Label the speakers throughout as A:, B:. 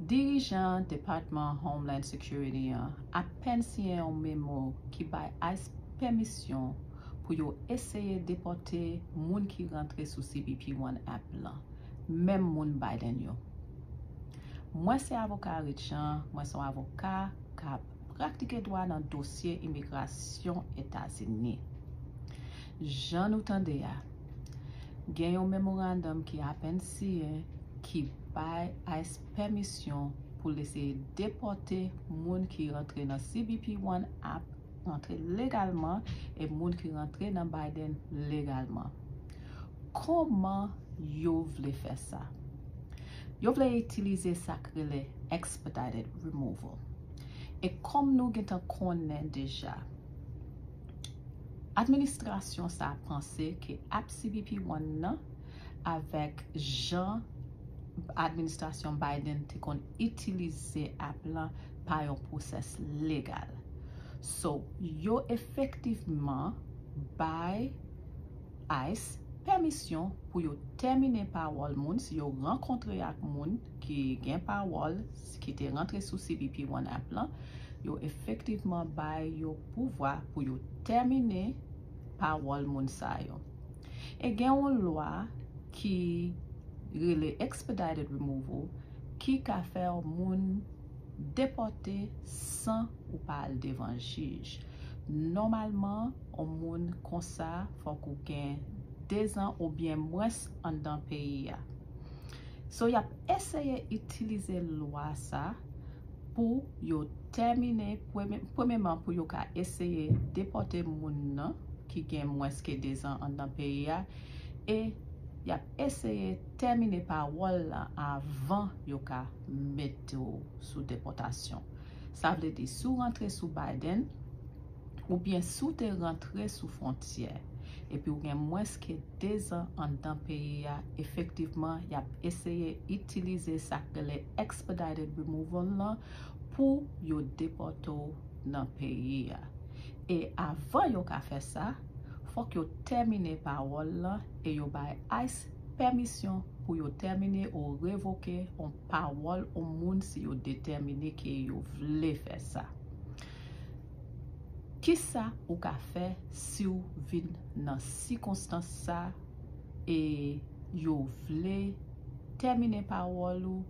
A: Dirijan Depatman Homeland Security an apèn siyen yon memo ki bay ice pèmisyon pou yo eseye depòte moun ki rantre sou cbp One app lan, menm moun Biden yo. Mwen se avoka Rich Jean, mwen se yon avoka k ap praktike dwa nan dosye imigrasyon Etazini. Jan nou tande a, gen yon memorandum ki apèn siyen ki bay ice pèmisyon pou l eseye depòte moun ki rantre nan cbp One ap rantre legalman e moun ki rantre nan Biden legalman. Kòman yo vle fè sa? Yo vle itilize sa k rele expedited removal. E kòm nou gentan konnen deja, administrasyon sa a panse ke ap cbp One nan, avèk jan administrasyon Biden te konn itilize app lan pa yon pwosès legal. So, yo efektivman bay ice pèmisyon pou yo tèmine pawòl moun si yo rankontre ak moun ki gen pawòl ki te rantre sou cbp One app lan, yo efektivman bay yo pouvwa pou yo tèmine. pawòl moun sa yo. E gen yon lwa ki rele expedited removal ki ka fè yon moun depòte san ou pa al devan jij. Nòmalman, yon moun konsa fòk ou gen 2 zan oubyen mwens anndan peyi a. So y ap eseye itilize lwa sa. pou yo tèmine premyeman pou yo ka eseye depòte moun nan ki gen mwens ke 2 zan anndan peyi a e y ap eseye tèmine pawòl la avan yo ka mete w sou depòtasyon sa vle di si w rantre sou Biden oubyen si w te rantre sou fwontyè epi w gen mwens ke 2 zan anndan peyi a, efektivman y ap eseye itilize sa k rele Expedited Removal lan pou yo depòte w nan peyi a. E avan yo ka fè sa, fòk yo tèmine pawòl lan e yo bay ice pèmisyon pou yo tèmine ou revoke on pawòl on moun si yo detèmine ke yo vle fè sa. Kisa ou ka fè siw vin nan sikonstans sa e yo vle tèmine pawòl ou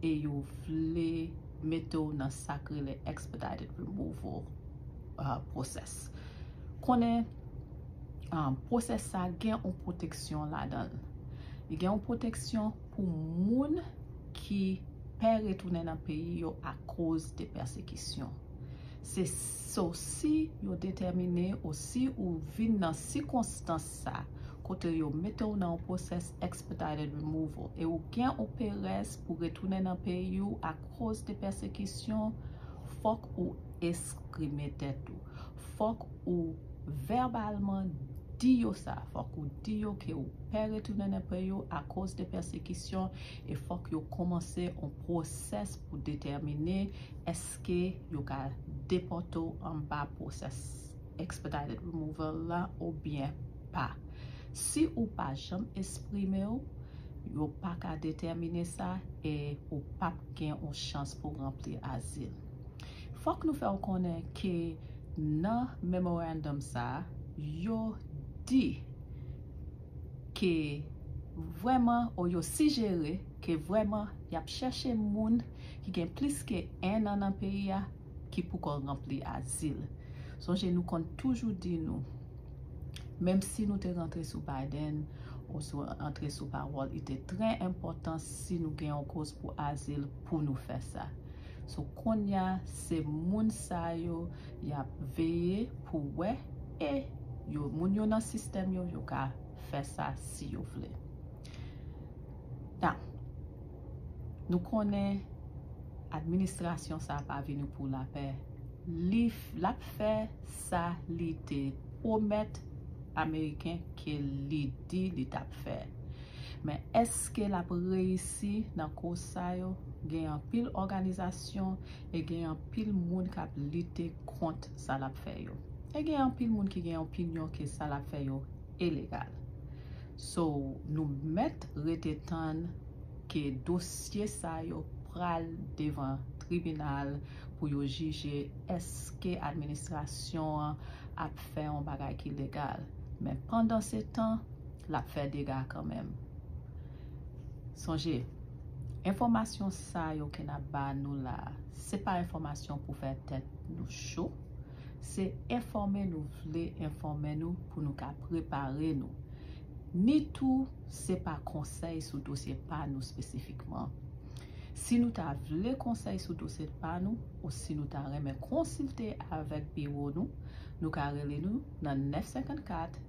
A: e yo vle mete w nan sak rele expedited removal process. Konnen process sa gen yon pwoteksyon ladanl. Li gen yon pwoteksyon pou moun ki. pè retounen nan peyi yo akoz de pèsekisyon. Se so si yo detèmine o si ou vin nan sikonstans sa kote yo mete ou nan on pwosès Expedited Removal e ou gen on perèz pou retounen nan peyi ou akoz de pèsekisyon, fòk ou esprime tèt ou. Fòk ou vèbalman di yo sa. Fòk ou di yo ke ou pè retounen nan peyi ou akoz de pèsekisyon E fòk yo kòmanse on pwosès pou detèmine èske yo ka depòte w anba pwosès Expedited Removal la oubyen pa. Si ou pa janm esprime w, yo pa ka detèmine sa e ou p ap gen on chans pou ranpli azil. Fòk nou fè w konnen ke nan Memorandum sa, yo di. ke vrèman ou yo sijere ke vrèman y ap chèche moun ki gen plis ke 1 an nan peyi a ki pou kò ranpli azil. Sonje nou konn toujou di nou, menm si nou te rantre sou Biden ou sou antre sou pawòl, li te trè enpòtan si nou gen yon koz pou azil pou nou fè sa. So konnya se moun sa yo yap veye pou wè e yo moun yo nan sistèm yo yo ka fè sa si yo vle tan nou konnen administrasyon sa pa vini pou lapè li lap fè sa li te pwomèt ameriken ke li di li tap fè. Men eske lap reyisi nan koz sa yo? Gen anpil òganizasyon e gen anpil moun kap lite kont sa lap fè yo. E gen anpil moun ki gen opinyon ke sa lap fè yo ilegal. So nou mèt rete tann ke dosye sa yo pral devan tribinal pou yo jije eske administrasyon an ap fè yon bagay ki legal. Men pandansetan. lap fè dega kanmenm. Sonje, enfòmasyon sa yo ke nap ba nou la, se pa enfòmasyon pou fè tèt nou cho, se enfòme nou vle enfòme nou pou nou ka prepare nou. Ni tou se pa konsèy sou dosye pa nou spesifikman. Si nou ta vle konsèy sou dosye pa nou, ou si nou ta renmen konsilte avèk biwo nou, nou ka rele nou nan 954